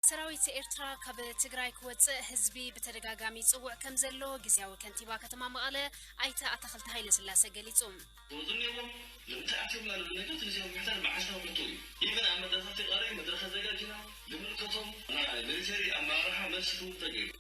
ሰራዊት ኤርትራ ካብ ትግራይ ክወፅእ ህዝቢ ብተደጋጋሚ ይፅውዕ ከምዘሎ ግዝያዊ ከንቲባ ከተማ መቐለ ኣይተ ኣታኽልቲ ሃይለስላሰ ገሊፁ። ዞዝኒዎም ልምንታይ ኣቲዮምና ልብል ነገር ትግዜዊ ምሕደር ብዓሻ ሕቶ እዩ ኢቭን ኣብ መድረከ ፊቃሪ መድረከ ኣዘጋጂና ልምልከቶም ናይ ምሊተሪ ኣመራርሓ መልሲ ክህቡ ተገይሩ።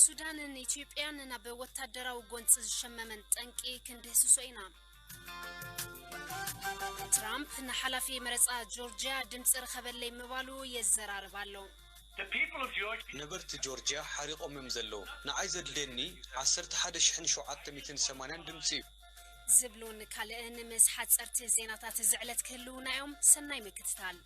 ሱዳንን ኢትዮጵያን ናብ ወታደራዊ ጎንፂ ዝሸመመን ጠንቂ ክንድህስሶ ኢና። ትራምፕ ንሓላፊ መረፃ ጆርጂያ ድምፂ ርኸበለይ ምባሉ የዘራርብ ኣሎ። ነበርቲ ጆርጂያ ሓሪቖም እዮም ዘለዉ። ንዓይ ዘድልየኒ ዓሰርተ ሓደ ሽሕን ሸውዓተ ሚእትን ሰማንያን ድምፂ እዩ። ዝብሉን ካልእን ምስ ሓጸርቲ ዜናታት እዚ ዕለት ክህልዉና እዮም። ሰናይ ምክትታል።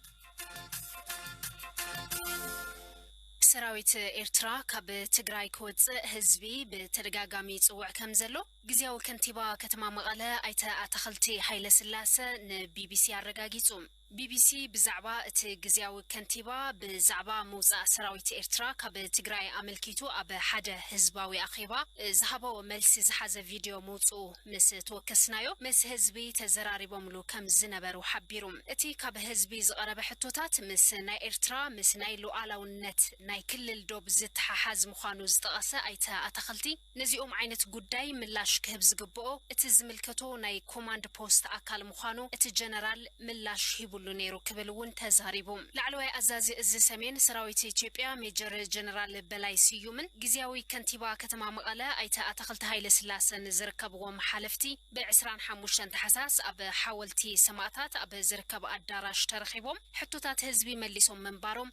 ሰራዊት ኤርትራ ካብ ትግራይ ክወጽእ ህዝቢ ብተደጋጋሚ ይጽውዕ ከም ዘሎ ግዝያዊ ከንቲባ ከተማ መቐለ ኣይተ ኣታኽልቲ ሃይለስላሰ ንቢቢሲ ኣረጋጊጹ። ቢቢሲ ብዛዕባ እቲ ግዝያዊ ከንቲባ ብዛዕባ ምውጻእ ሰራዊት ኤርትራ ካብ ትግራይ ኣመልኪቱ ኣብ ሓደ ህዝባዊ ኣኼባ ዝሃቦ መልሲ ዝሓዘ ቪድዮ ምውጽኡ ምስ ተወከስናዮ ምስ ህዝቢ ተዘራሪቦምሉ ከም ዝነበሩ ሓቢሩ። እቲ ካብ ህዝቢ ዝቐረበ ሕቶታት ምስ ናይ ኤርትራ ምስ ናይ ሉኣላውነት ናይ ክልል ዶብ ዝተሓሓዝ ምዃኑ ዝጠቐሰ ኣይተ ኣታኽልቲ፣ ነዚኦም ዓይነት ጉዳይ ምላሽ ክህብ ዝግብኦ እቲ ዝምልከቶ ናይ ኮማንድ ፖስት ኣካል ምዃኑ እቲ ጀነራል ምላሽ ሂቡሉ ነይሩ ክብል እውን ተዛሪቡ። ላዕለዋይ ኣዛዚ እዚ ሰሜን ሰራዊት ኢትዮጵያ ሜጀር ጀነራል በላይ ስዩምን ግዝያዊ ከንቲባ ከተማ መቐለ ኣይተ ኣታኽልቲ ሃይለስላሰን ዝርከብዎም ሓለፍቲ ብ ዕስራን ሓሙሽተን ታሕሳስ ኣብ ሓወልቲ ሰማእታት ኣብ ዝርከብ ኣዳራሽ ተረኺቦም ሕቶታት ህዝቢ መሊሶም ምንባሮም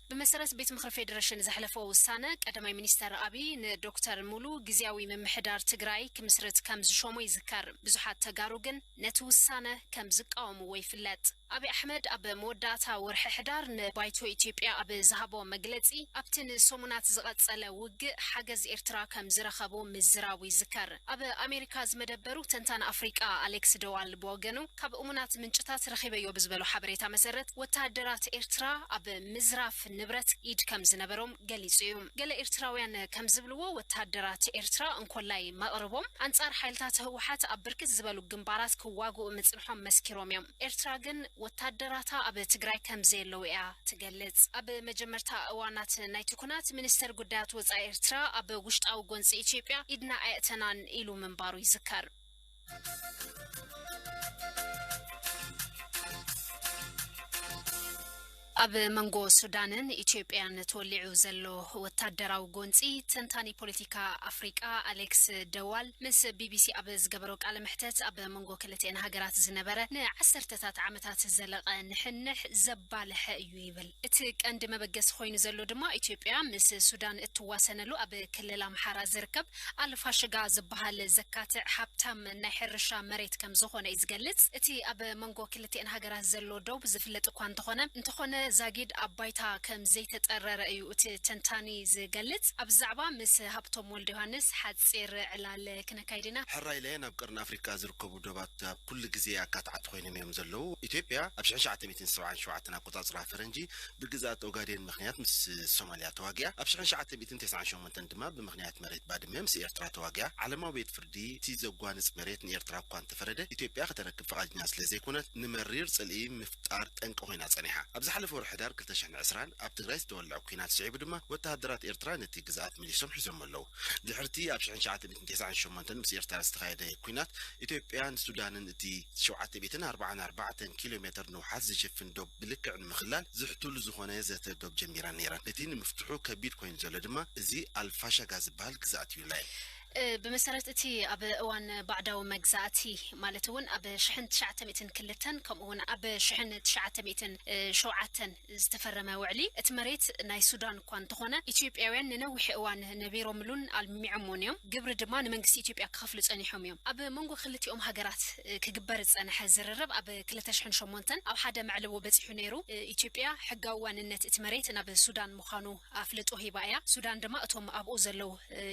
ብመሰረት ቤት ምኽሪ ፌዴሬሽን ዘሕለፎ ውሳነ ቀዳማይ ሚኒስተር ኣብይ ንዶክተር ሙሉ ግዝያዊ ምምሕዳር ትግራይ ክምስርት ከም ዝሾሞ ይዝከር። ብዙሓት ተጋሩ ግን ነቲ ውሳነ ከም ዝቃወምዎ ይፍለጥ። ኣብይ ኣሕመድ ኣብ መወዳእታ ወርሒ ሕዳር ንባይቶ ኢትዮጵያ ኣብ ዝሃቦ መግለጺ ኣብቲ ንሰሙናት ዝቐጸለ ውግእ ሓገዝ ኤርትራ ከም ዝረኸቡ ምዝራቡ ይዝከር። ኣብ ኣሜሪካ ዝመደበሩ ተንታኒ ኣፍሪቃ ኣሌክስ ደዋል ብወገኑ፣ ካብ እሙናት ምንጭታት ረኺበዮ ብዝበሎ ሓበሬታ መሰረት፣ ወተሃደራት ኤርትራ ኣብ ምዝራፍ ንብረት ኢድ ከምዝነበሮም ገሊጹ እዩ። ገለ ኤርትራውያን ከምዝብልዎ፣ ወተሃደራት ኤርትራ እንኮላይ መቕርቦም ኣንጻር ሓይልታት ህወሓት ኣብ ብርክት ዝበሉ ግንባራት ክዋግኡ ምጽንሖም መስኪሮም እዮም። ኤርትራ ግን ወታደራታ ኣብ ትግራይ ከምዘየለዉ እያ ትገልጽ። ኣብ መጀመርታ እዋናት ናይቲ ኵናት፣ ሚኒስተር ጉዳያት ወጻኢ ኤርትራ ኣብ ውሽጣዊ ጎንጺ ኢትዮጵያ ኢድና ኣየእተናን ኢሉ ምንባሩ ይዝከር። ኣብ መንጎ ሱዳንን ኢትዮጵያን ተወሊዑ ዘሎ ወታደራዊ ጎንፂ ተንታኒ ፖለቲካ ኣፍሪቃ ኣሌክስ ደ ዋል ምስ ቢቢሲ ኣብ ዝገበሮ ቃለ መሕተት ኣብ መንጎ ክልቲኤን ሃገራት ዝነበረ ንዓሰርተታት ዓመታት ዝዘለቐ ንሕንሕ ዘባለሐ እዩ ይብል። እቲ ቀንዲ መበገሲ ኮይኑ ዘሎ ድማ ኢትዮጵያ ምስ ሱዳን እትዋሰነሉ ኣብ ክልል ኣምሓራ ዝርከብ ኣልፋሽጋ ዝበሃል ዘካትዕ ሃብታም ናይ ሕርሻ መሬት ከም ዝኾነ እዩ ዝገልጽ። እቲ ኣብ መንጎ ክልቲኤን ሃገራት ዘሎ ዶብ ዝፍለጥ እኳ እንተኾነ፣ እንተኾነ ዛጊድ ኣብ ባይታ ከም ዘይተጠረረ እዩ እቲ ተንታኒ ዝገልጽ። ኣብዚ ዛዕባ ምስ ሃብቶም ወልደዮሃንስ ሓጺር ዕላል ክነካይድ ኢና። ሕራይለ ናብ ቀርኒ ኣፍሪቃ ዝርከቡ ዶባት ኣብ ኩሉ ግዜ ኣካታዕቲ ኮይኖም እዮም ዘለዉ። ኢትዮጵያ ኣብ ሽሕን ሸውዓተ ሚእትን ሰብዓን ሸውዓተን ኣቆጻጽራ ፈረንጂ ብግዝኣት ኦጋዴን ምኽንያት ምስ ሶማልያ ተዋጊኣ ኣብ ሽሕን ሸውዓተ ሚእትን ተስዓን ሸሞንተን እተን ድማ ብምኽንያት መሬት ባድመ ምስ ኤርትራ ተዋጊኣ ዓለማዊ ቤት ፍርዲ እቲ ዘጓንጽ መሬት ንኤርትራ እኳ እንተፈረደ ኢትዮጵያ ከተረክብ ፍቓድኛ ስለዘይኮነት ንመሪር ጽልኢ ምፍጣር ጠንቂ ኮይና ጸኒሓ። ኣብ ዝሓለፈ ወርሒ ሕዳር ክልተ ሽሕን ዕስራን ኣብ ትግራይ ዝተወልዐ ኲናት ስዒቡ ድማ ወተሃደራት ኤርትራ ነቲ ግዝኣት መሊሶም ሒዞሞ ኣለዉ። ድሕሪ'ቲ ኣብ ሽሕን ትሽዓተ ትስዓን ሸሞንተን ምስ ኤርትራ ዝተኻየደ ኲናት ኢትዮጵያን ሱዳንን እቲ ሸውዓተ ሚእትን ኣርብዓን ኣርባዕተን ኪሎ ሜተር ንውሓት ዝሽፍን ዶብ ብልክዕ ንምኽላል ዝሕትሉ ዝኾነ ዘተ ዶብ ጀሚረን ነይረን። እቲ ንምፍትሑ ከቢድ ኮይኑ ዘሎ ድማ እዚ ኣልፋሻጋ ዝበሃል ግዝኣት እዩ። ናይ። ብመሰረት እቲ ኣብ እዋን ባዕዳዊ መግዛእቲ ማለት እውን ኣብ ሽሕን ትሽዓተ ሚእትን ክልተን ከምኡ እውን ኣብ ሽሕን ትሽዓተ ሚእትን ሸውዓተን፣ ዝተፈረመ ውዕሊ፣ እቲ መሬት ናይ ሱዳን እኳ እንተኾነ፣ ኢትዮጵያውያን ንነዊሕ እዋን ነቢሮምሉን ኣልሚዖምዎን እዮም። ግብሪ ድማ ንመንግስቲ ኢትዮጵያ ክኸፍሉ ጸኒሖም እዮም። ኣብ መንጎ ክልቲኦም ሃገራት ክግበር ዝጸንሐ ዝርርብ ኣብ ክልተ ሽሕን ሸሞንተን ኣብ ሓደ መዕለቦ በጺሑ ነይሩ። ኢትዮጵያ ሕጋዊ ዋንነት እቲ መሬት ናብ ሱዳን ምዃኑ ኣፍልጦ ሂባ እያ። ሱዳን ድማ እቶም ኣብኡ ዘለዉ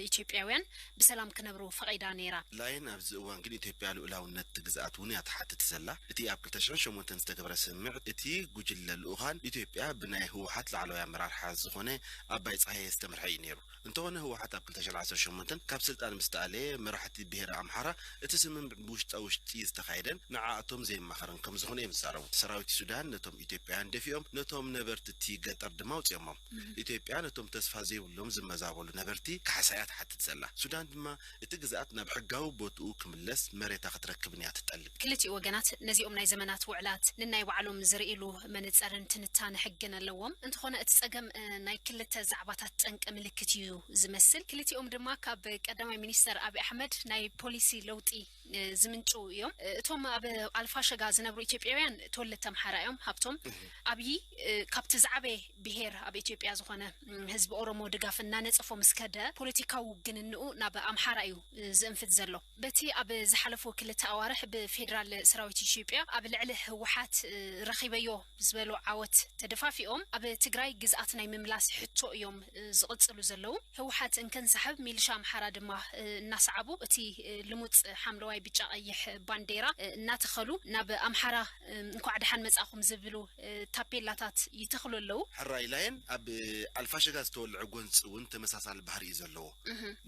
ኢትዮጵያውያን ብሰላም ክነብሩ ፈቒዳ ነይራ። ላይን ኣብዚ እዋን ግን ኢትዮጵያ ልኡላውነት እቲ ግዝኣት እውን እያ ትሓትት ዘላ። እቲ ኣብ ክልተ ሽሕን ሸሞንተን ዝተገበረ ስምምዕ እቲ ጉጅለ ልኡካን ኢትዮጵያ ብናይ ህወሓት ላዕለዋይ ኣመራርሓ ዝኾነ ኣባይ ፀሃየ ዝተመርሐ እዩ ነይሩ። እንተኾነ ህወሓት ኣብ ክልተ ሽሕን ዓሰርተ ሸሞንተን ካብ ስልጣን ምስ ተኣለየ መራሕቲ ብሄረ ኣምሓራ እቲ ስምምዕ ብውሽጣ ውሽጢ ዝተኻየደን ንዓኣቶም ዘየማኸረን ከምዝኾነ እዮም ዝዛረቡ። ሰራዊት ሱዳን ነቶም ኢትዮጵያውያን ደፊኦም ነቶም ነበርቲ'ቲ ገጠር ድማ ኣውጺኦሞም። ኢትዮጵያ ነቶም ተስፋ ዘይብሎም ዝመዛበሉ ነበርቲ ካሕሳ'ያ ትሓትት ዘላ። ሱዳን ድማ እቲ ግዝኣት ናብ ሕጋዊ ቦትኡ ክምለስ መሬታ ክትረክብን'ያ ትጠልብ። ክልቲኡ ወገናት ነዚኦም ናይ ዘመናት ውዕላት ንናይ ባዕሎም ዝርእይሉ መነጸርን ትንታነ ሕግን ኣለዎም። እንተኾነ እቲ ጸገም ናይ ክልተ ዛዕባታት ጠንቂ ምልክት'ዩ ዝመስል። ክልቲኦም ድማ ካብ ቀዳማይ ሚኒስተር ኣቢ ኣሕመድ ናይ ፖሊሲ ለውጢ። ዝምንጭው እዮም። እቶም ኣብ ኣልፋሸጋ ዝነብሩ ኢትዮጵያውያን ተወለድቲ ኣምሓራ እዮም። ሃብቶም ኣብዪ ካብቲ ዝዓበየ ብሄር ኣብ ኢትዮጵያ ዝኾነ ህዝቢ ኦሮሞ ድጋፍ እናነፀፎ ምስ ከደ ፖለቲካዊ ውግንንኡ ናብ ኣምሓራ እዩ ዝእንፍት ዘሎ። በቲ ኣብ ዝሓለፉ ክልተ ኣዋርሕ ብፌዴራል ሰራዊት ኢትዮጵያ ኣብ ልዕሊ ህወሓት ረኺበዮ ዝበሎ ዓወት ተደፋፊኦም ኣብ ትግራይ ግዝኣት ናይ ምምላስ ሕቶ እዮም ዝቕፅሉ ዘለዉ። ህወሓት እንከንሳሕብ ሚልሻ ኣምሓራ ድማ እናሰዓቡ እቲ ልሙፅ ሓምለዋይ ብጫ ቐይሕ ባንዴራ እናተኸሉ ናብ ኣምሓራ እንኳዕ ደሓን መፃእኹም ዝብሉ ታፔላታት ይተኽሉ ኣለዉ። ሕራይ ላይን ኣብ ኣልፋሸጋ ዝተወልዐ ጎንፂ እውን ተመሳሳሊ ባህሪ እዩ ዘለዎ።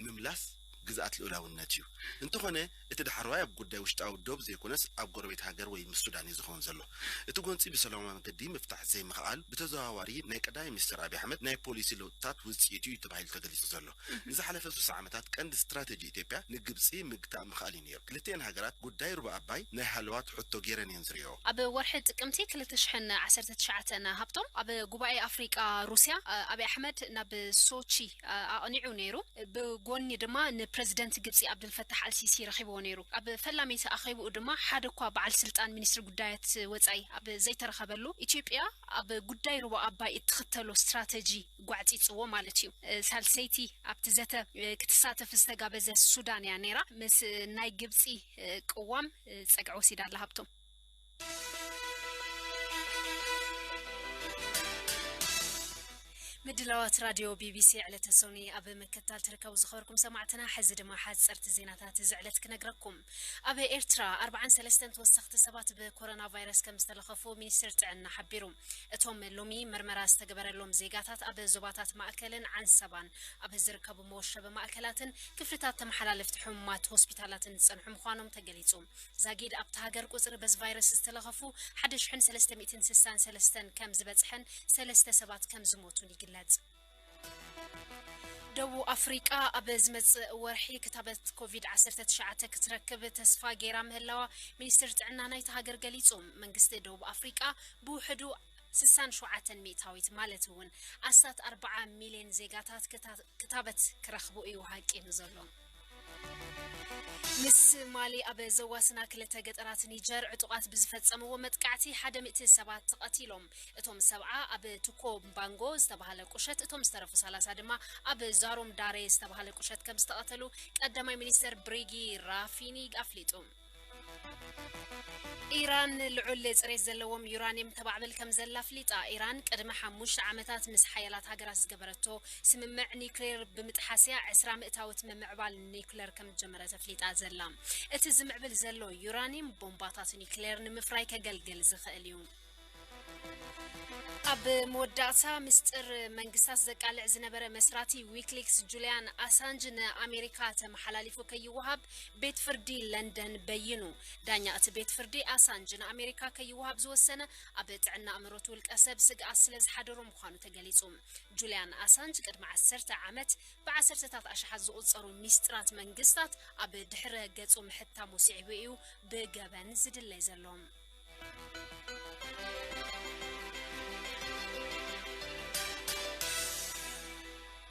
ምምላስ ግዝኣት ልኡላውነት እዩ። እንተኾነ እቲ ዳሕረዋይ ኣብ ጉዳይ ውሽጣዊ ዶብ ዘይኮነስ ኣብ ጎረቤት ሃገር ወይ ምስ ሱዳን እዩ ዝኸውን ዘሎ። እቲ ጎንጺ ብሰላማዊ መገዲ ምፍታሕ ዘይምኽኣል ብተዘዋዋሪ ናይ ቀዳማይ ሚኒስተር ኣቢይ ኣሕመድ ናይ ፖሊሲ ለውጥታት ውጽኢት እዩ ተባሂሉ ተገሊጹ ዘሎ። ንዝሓለፈ ስሳ ዓመታት ቀንዲ ስትራተጂ ኢትዮጵያ ንግብጺ ምግታእ ምኽኣል እዩ ነይሩ። ክልቲኤን ሃገራት ጉዳይ ሩባ ኣባይ ናይ ሃለዋት ሕቶ ገይረን እየን ዝርእይኦ። ኣብ ወርሒ ጥቅምቲ ክልተ ሽሕን ዓሰርተ ትሽዓተን ሃብቶም ኣብ ጉባኤ ኣፍሪቃ ሩስያ ኣቢይ ኣሕመድ ናብ ሶቺ፣ ኣቕኒዑ ነይሩ። ብጎኒ ድማ ንፕረዚደንት ግብጺ ኣብደልፈታሕ ኣልሲሲ ረኺብዎ ነይሩ። ኣብ ፈላመይቲ ኣኼብኡ ድማ ሓደ'ኳ በዓል ስልጣን ሚኒስትሪ ጉዳያት ወጻኢ ኣብ ዘይተረኸበሉ፣ ኢትዮጵያ ኣብ ጉዳይ ሩባ ኣባይ እትኽተሎ ስትራተጂ ጓዕጺጽዎ ማለት'ዩ። ሳልሰይቲ ኣብቲ ዘተ ክትሳተፍ ዝተጋበዘ ሱዳን'ያ ነይራ። ምስ ናይ ግብጺ ቅዋም ጸግዒ ወሲዳ ኣላ ሃብቶም። ምድላዋት ራዲዮ ቢቢሲ ዕለተ ሶኒ ኣብ ምክትታል ትርከቡ ዝኸበርኩም ሰማዕትና፣ ሕዚ ድማ ሓጸርቲ ዜናታት እዚ ዕለት ክነግረኩም። ኣብ ኤርትራ 43 ተወሰኽቲ ሰባት ብኮሮና ቫይረስ ከም ዝተለኸፉ ሚኒስትር ጥዕና ሓቢሩ። እቶም ሎሚ ምርመራ ዝተገበረሎም ዜጋታት ኣብ ዞባታት ማእከልን ዓንሰባን ኣብ ዝርከቡ መወሸቢ ማእከላትን ክፍልታት ተመሓላለፍቲ ሕሙማት ሆስፒታላትን ዝጸንሑ ምዃኖም ተገሊጹ። ዛጊድ ኣብታ ሃገር ቁጽሪ በዚ ቫይረስ ዝተለኸፉ ሓደ ሽሕን ሰለስተ ሚእትን ስሳን ሰለስተን ከም ዝበጽሐን ሰለስተ ሰባት ከም ዝሞቱን ይግለጽ። ደቡብ ኣፍሪቃ ኣብ ዝመጽእ ወርሒ ክታበት ኮቪድ ዓሰርተ ትሽዓተ ክትረክብ ተስፋ ገይራ ምህላዋ ሚኒስትሪ ጥዕና ናይታ ሃገር ገሊጹ። መንግስቲ ደቡብ ኣፍሪቃ ብውሕዱ ስሳን ሸውዓተን ሚእታዊት ማለት እውን ኣስታት ኣርባዓ ሚልየን ዜጋታት ክታበት ክረኽቡ እዩ ሃቂኑ ዘሎ። ምስ ማሊ ኣብ ዘዋስና ክልተ ገጠራት ኒጀር ዕጡቓት ብዝፈጸምዎ መጥቃዕቲ ሓደ ሚእቲ ሰባት ተቐቲሎም። እቶም ሰብዓ ኣብ ቱኮ ምባንጎ ዝተባህለ ቁሸት እቶም ዝተረፉ ሰላሳ ድማ ኣብ ዛሩም ዳሬ ዝተባህለ ቁሸት ከምዝተቐተሉ ቀዳማይ ሚኒስተር ብሪጊ ራፊኒ ኣፍሊጡ። ኢራን ልዑል ጽሬት ዘለዎም ዩራንየም ተማዕብል ከም ዘላ ኣፍሊጣ። ኢራን ቅድሚ ሓሙሽተ ዓመታት ምስ ሓያላት ሃገራት ዝገበረቶ ስምምዕ ኒዩክሌር ብምጥሓስ እያ ዕስራ ምእታዊት ምምዕባል ኒዩክሌር ከም ዝጀመረት ኣፍሊጣ ዘላ። እቲ ዝምዕብል ዘሎ ዩራንየም ቦምባታት ኒዩክሌር ንምፍራይ ከገልግል ዝኽእል እዩ። ኣብ መወዳእታ ምስጥር መንግስታት ዘቃልዕ ዝነበረ መስራቲ ዊክሊክስ ጁልያን ኣሳንጅ ንኣሜሪካ ተመሓላሊፉ ከይወሃብ ቤት ፍርዲ ለንደን በይኑ። ዳኛ እቲ ቤት ፍርዲ ኣሳንጅ ንኣሜሪካ ከይወሃብ ዝወሰነ ኣብ ጥዕና ኣእምሮት ውልቀ ሰብ ስግኣት ስለ ዝሓደሮ ምዃኑ ተገሊጹ። ጁልያን ኣሳንጅ ቅድሚ ዓሰርተ ዓመት ብዓሰርተታት ኣሽሓት ዝቑጸሩ ሚስጥራት መንግስታት ኣብ ድሕረ ገጹ ምሕታሙ ስዒቡ እዩ ብገበን ዝድለይ ዘሎ።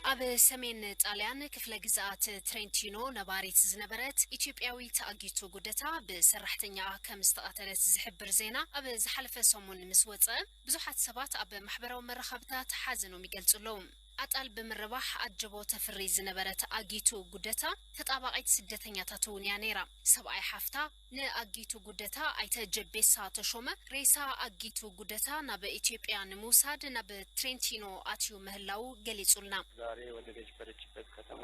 ኣብ ሰሜን ጣልያን ክፍለ ግዝኣት ትሬንቲኖ ነባሪት ዝነበረት ኢትዮጵያዊት ኣጊቱ ጉደታ ብሰራሕተኛኣ ከም ዝተቐተለት ዝሕብር ዜና ኣብ ዝሓለፈ ሰሙን ምስ ወፀ ብዙሓት ሰባት ኣብ ማሕበራዊ መራኸብታት ሓዘኖም ይገልጹ ኣለዉ። ኣጣል ብምርባሕ ኣጀቦ ተፍሪ ዝነበረት ኣጊቱ ጉደታ ተጣባቒት ስደተኛታት እውን እያ ነይራ። ሰብኣይ ሓፍታ ንኣጊቱ ጉደታ፣ ኣይተ ጀቤሳ ተሾመ፣ ሬሳ ኣጊቱ ጉደታ ናብ ኢትዮጵያ ንምውሳድ ናብ ትሬንቲኖ ኣትዩ ምህላዉ ገሊጹልና። ዛሬ ወደ ገጅበረችበት ከተማ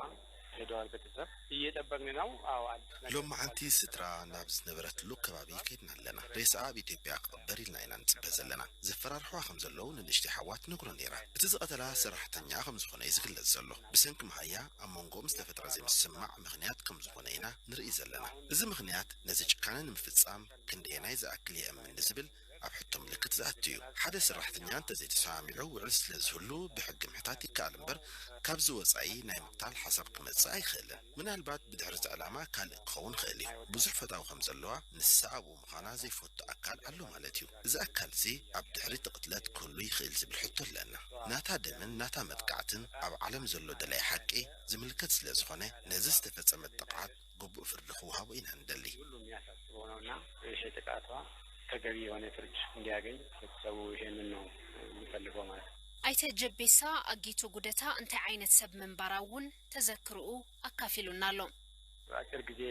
ሄደዋል ቤተሰብ እየጠበቅን ነው አዎ አዲስ ነገር ሎምዓንቲ ስድራ ናብ ዝነበረትሉ ከባቢ ከድና ኣለና ሬሳኣ ኣብ ኢትዮጵያ ክቅበር ኢልና ኢና ንፅበ ዘለና ዘፈራርሕዋ ከም ዘለው ንንእሽተይ ሓዋ ትነግሮ ነይራ እቲ ዝቀተላ ሰራሕተኛኣ ከም ዝኮነ እዩ ዝግለፅ ዘሎ ብሰንኪ መሃያ ኣብ መንጎኦም ዝተፈጥረ ዘይምስምማዕ ምክንያት ከም ዝኮነ ኢና ንርእይ ዘለና እዚ ምኽንያት ነዚ ጭካነ ንምፍጻም ክንደየናይ ዝኣክል የእምን ንዝብል ኣብ ሕቶ ምልክት ዝኣቱ እዩ። ሓደ ሰራሕተኛ እንተዘይተሰማሚዑ ውዕል ስለዝህሉ ብሕጊ ምሕታት ይከኣል እምበር ካብዚ ወጻኢ ናይ ምቕታል ሓሳብ ክመጽእ ኣይክእልን። ምናልባት ብድሕሪ እዚ ዕላማ ካልእ ክኸውን ይኽእል እዩ። ብዙሕ ፈታዊ ከም ዘለዋ ንሳ ኣብኡ ምዃና ዘይፈቱ ኣካል ኣሎ ማለት እዩ። እዚ ኣካል'ዚ ኣብ ድሕሪ እቲ ቅትለት ክህሉ ይኽእል ዝብል ሕቶ ኣለና። ናታ ደምን ናታ መጥቃዕትን ኣብ ዓለም ዘሎ ደላይ ሓቂ ዝምልከት ስለዝኾነ ነዚ ዝተፈጸመት ጥቕዓት ግቡእ ፍርዲ ክወሃቦ ኢና ንደሊ። ሁሉም የሚያሳስበው ነው እና ይሄ ጥቃቷ ተገቢ የሆነ ፍርድ እንዲያገኝ ህብረተሰቡ ይሄንን ነው የሚፈልገው ማለት ነው። ኣይተ ጀቤሳ ኣጊቱ ጉደታ እንታይ ዓይነት ሰብ ምንባራ እውን ተዘክርኡ ኣካፊሉና ኣሎ። ንኣጭር ግዜ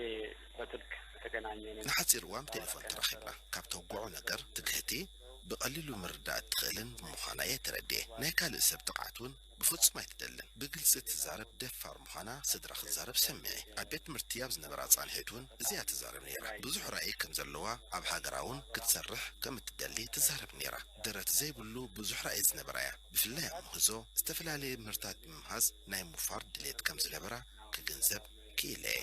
በስልክ ተገናኘን እና ንሓጺር እዋን ብቴሌፎን እናወራን ተራኺብና። ከነበርን ካብ ተውግዖ ነገር ትግህቲ ብቐሊሉ ምርዳእ እትኽእልን ብምዃና እየ ተረዲኤ። ናይ ካልእ ሰብ ጥቕዓት እውን ብፍጹም ኣይትደልን ብግልጺ እትዛረብ ደፋር ምዃና ስድራ ክትዛረብ ሰሚዐ ኣብ ቤት ትምህርቲ ኣብ ዝነበራ ጻንሒት ውን እዚ እያ ትዛረብ ነይራ ብዙሕ ራኢ ከም ዘለዋ ኣብ ሃገራ ውን ክትሰርሕ ከም እትደሊ ትዛረብ ነይራ ደረት ዘይብሉ ብዙሕ ራኢ ዝነበራ እያ ብፍላይ ኣብ ምህዞ ዝተፈላለየ ምህርታት ብምምሃዝ ናይ ምውፋር ድሌት ከም ዝነበራ ክግንዘብ ክኢለ እየ።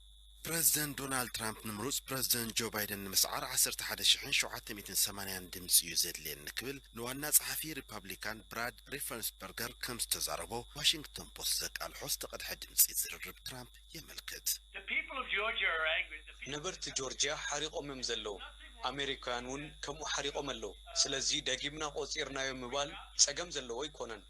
ፕረዚደንት ዶናልድ ትራምፕ ንምሩጽ ፕረዚደንት ጆ ባይደን ንምስዓር ዓሰርተ ሓደ ሽሕን ሸውዓተ ሚእትን ሰማንያን ድምጺ እዩ ዘድልየኒ ክብል ንዋና ጸሓፊ ሪፓብሊካን ብራድ ሪፈንስበርገር ከም ዝተዛረቦ ዋሽንግተን ፖስት ዘቃልሖ ዝተቐድሐ ድምጺ ዝርርብ ትራምፕ የመልክት። ነበርቲ ጆርጅያ ሓሪቖም'ዮም ዘለዉ፣ ኣመሪካውያን'ውን ከምኡ ሓሪቖም ኣለዉ፣ ስለዚ ደጊምና ቆጺርናዮ ምባል ጸገም ዘለዎ ኣይኮነን።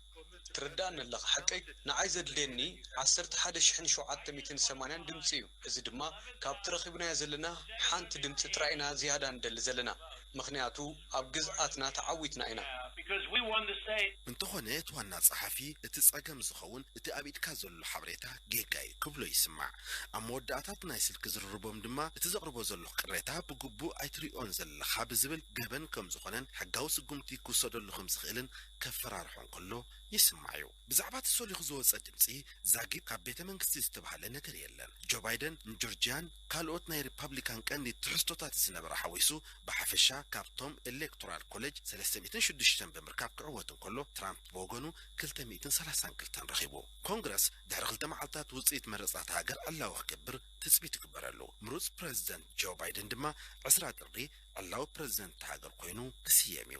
ትርድኣኒ ኣለኻ ሓቀይ? ንዓይ ዘድልየኒ ዓሰርተ ሓደ ሽሕን ሸውዓተ ሚእትን ሰማንያን ድምጺ እዩ፣ እዚ ድማ ካብቲ ረኺብናዮ ዘለና ሓንቲ ድምጺ ጥራይ ኢና ዝያዳ ንደሊ ዘለና፣ ምኽንያቱ ኣብ ግዝኣትና ተዓዊትና ኢና። እንተኾነ እቲ ዋና ጸሓፊ፣ እቲ ጸገም ዝኸውን እቲ ኣብ ኢድካ ዘሎ ሓበሬታ ጌጋ እዩ ክብሎ ይስማዕ። ኣብ መወዳእታ እቲ ናይ ስልኪ ዝርርቦም ድማ እቲ ዘቕርቦ ዘለኹ ቅሬታ ብግቡእ ኣይትርእዮን ዘለኻ ብዝብል ገበን ከምዝኾነን ሕጋዊ ስጉምቲ ክውሰደሉ ከምዝኽእልን ከፈራርሖ እንከሎ ይስማዕ'ዩ። ብዛዕባ እቲ ሰሊኹ ዝወጸ ድምጺ ዛጊት ካብ ቤተ መንግስቲ ዝተባህለ ነገር የለን። ጆ ባይደን ንጆርጂያን ካልኦት ናይ ሪፓብሊካን ቀንዲ ትሕዝቶታት ዝነበራ ሓዊሱ ብሓፈሻ ካብቶም ኤሌክቶራል ኮለጅ ሰለስተ ሚእትን ሽዱሽተን ብምርካብ ክዕወት እንከሎ ትራምፕ ብወገኑ ክልተ ሚእትን ሰላሳን ክልተን ረኺቡ። ኮንግረስ ድሕሪ ክልተ መዓልታት ውጽኢት መረጻ'ታ ሃገር ዕላዊ ክገብር ትጽቢት ይግበረሉ። ምሩጽ ፕረዚደንት ጆ ባይደን ድማ ዕስራ ጥሪ ዕላዊ ፕረዚደንት እታ ሃገር ኮይኑ ክስየም'ዩ።